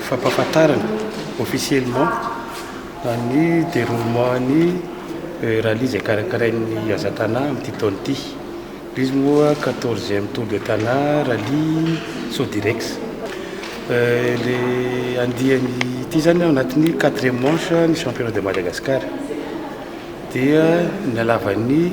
fampahafantarana officiellement ny déroulement ny eh, rallye izay karakarain'ny Azatana amin'ity taona ity. Izy moa 14e Tour de Tana rallye Sodirex. Eh, le andiany ity zany ao anatin'ny 4e manche ny championnat de Madagascar. Dia ny halavan'ny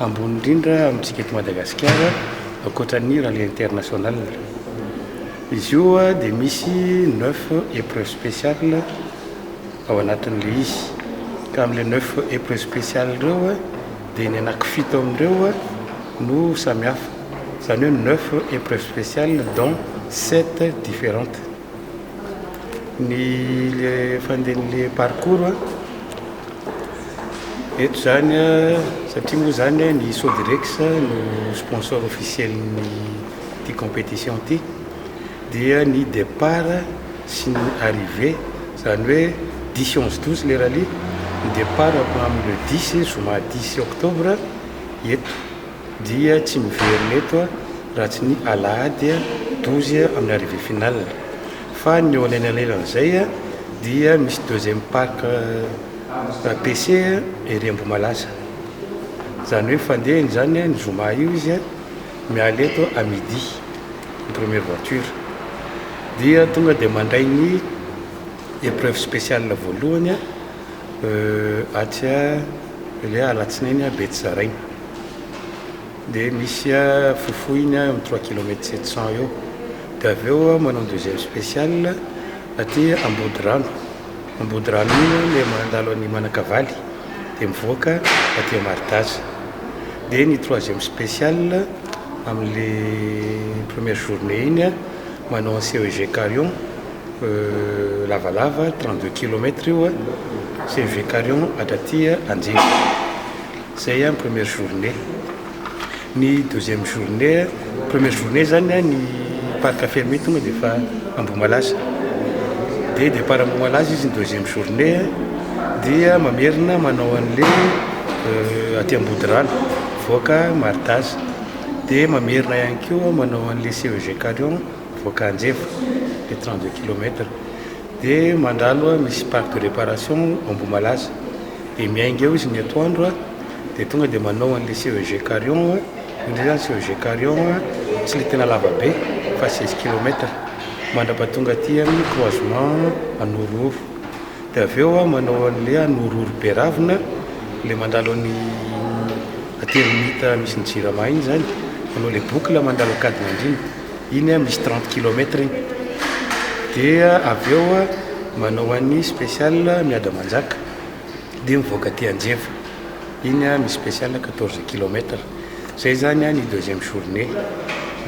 Ambony indrindra amintsika eto Madagasikara ankoatra ny rallye international. Izy io dia misy neuf épreuves spéciales ao anatin'ilay izy. Ka amin'ilay neuf épreuves spéciales ireo dia ny anakifito amin'ireo no samihafa. Izany hoe neuf épreuves spéciales dont sept différentes. ny le fandehan'le parcours a eto zany a satria moa zany ny Sodirex no sponsor officiel-n'ny ity compétition ity dia ny départ sy ny arrivée zany hoe dix sy onze douze le rallye ny départ avy amin'ny le dix zoma dix octobre eto dia tsy miverina eto raha tsy ny alahady douze amin'ny arrivée finale fa ny eo anelanelan'izay dia misy deuxième parc PC ery Ambohimalasa izany hoe fandehany izany ny zoma io izy miala eto à midi ny première voiture dia tonga dia mandray ny épreuve spéciale voalohany Euh atsy a le alatsinainy a Betsaraina dia misy a fofohiny a eo amin'ny trois kilomètre sept cent eo dia avy eo aho manao ny deuxième special aty Ambodirano, Ambodirano iny aho le mandalo an'i Manakavaly dia mivoaka aty a Maridaza dia ny troisième special amin'le première journée iny a. Manao aseho Evekarion lavalava trente deux kilomètre io a, aseho Evekarion hatraty Anjevo. Zay a ny première journée. Ny deuxième journée a, première journée zany a ny parc fermé tonga de fa Ambohimalaza. De départ Ambohimalaza izy ny deuxième journée a, dia mamerina manao an'le aty Ambodirano mivoaka Martaza. Dia mamerina ihany koa manao an'ilay CEG Carion mivoaka Anjevo, le trente deux kilomètre. Dia mandà aloha misy parc de réparation ao Ambohimalaza. Dia miainga eo izy ny atoandro, dia tonga dia manao an'ilay CEG Carion. Indrindra izany CEG Carion tsy ilay tena lava be fa seize kilomètre, mandrapahatonga aty amin'ny croisement Anorohoro. Dia avy eo aho manao an'ilay an' ororo be ravina, ilay mandalo an'i aty Ermita misy ny Jirama iny izany, manao ilay boucle mandalo Ankadinandriana, iny an misy trente kilomètre iny. Dia avy eo aho manao an'i special Miadamanjaka dia mivoaka aty Anjeva, iny an misy special quatorze kilomètre. Izay izany an ny deuxième journée.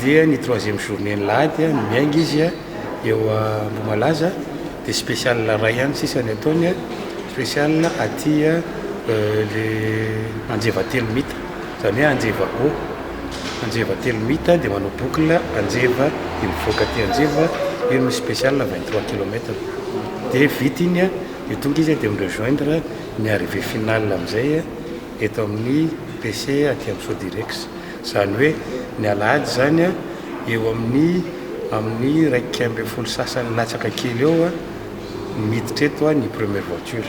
Dia ny troisième journée ny lahady an, ny miainga izy an. eo Ambohimalaza dia special iray ihany sisa ny ataony special aty le anjeva telo mita zany hoe anjeva O anjeva telo mita dia manao boucle anjeva dia mivoaka aty anjeva io no special vingt trois kilomètre dia vita iny an dia tonga izy dia mi rejoindre ny arrivee finale amizay eto amin'ny PC aty amin'ny sodirex Izany hoe ny alahady izany an, eo amin'ny amin'ny iraika ambin'ny folo sy sasany latsaka kely eo an, miditra eto an ny première voiture.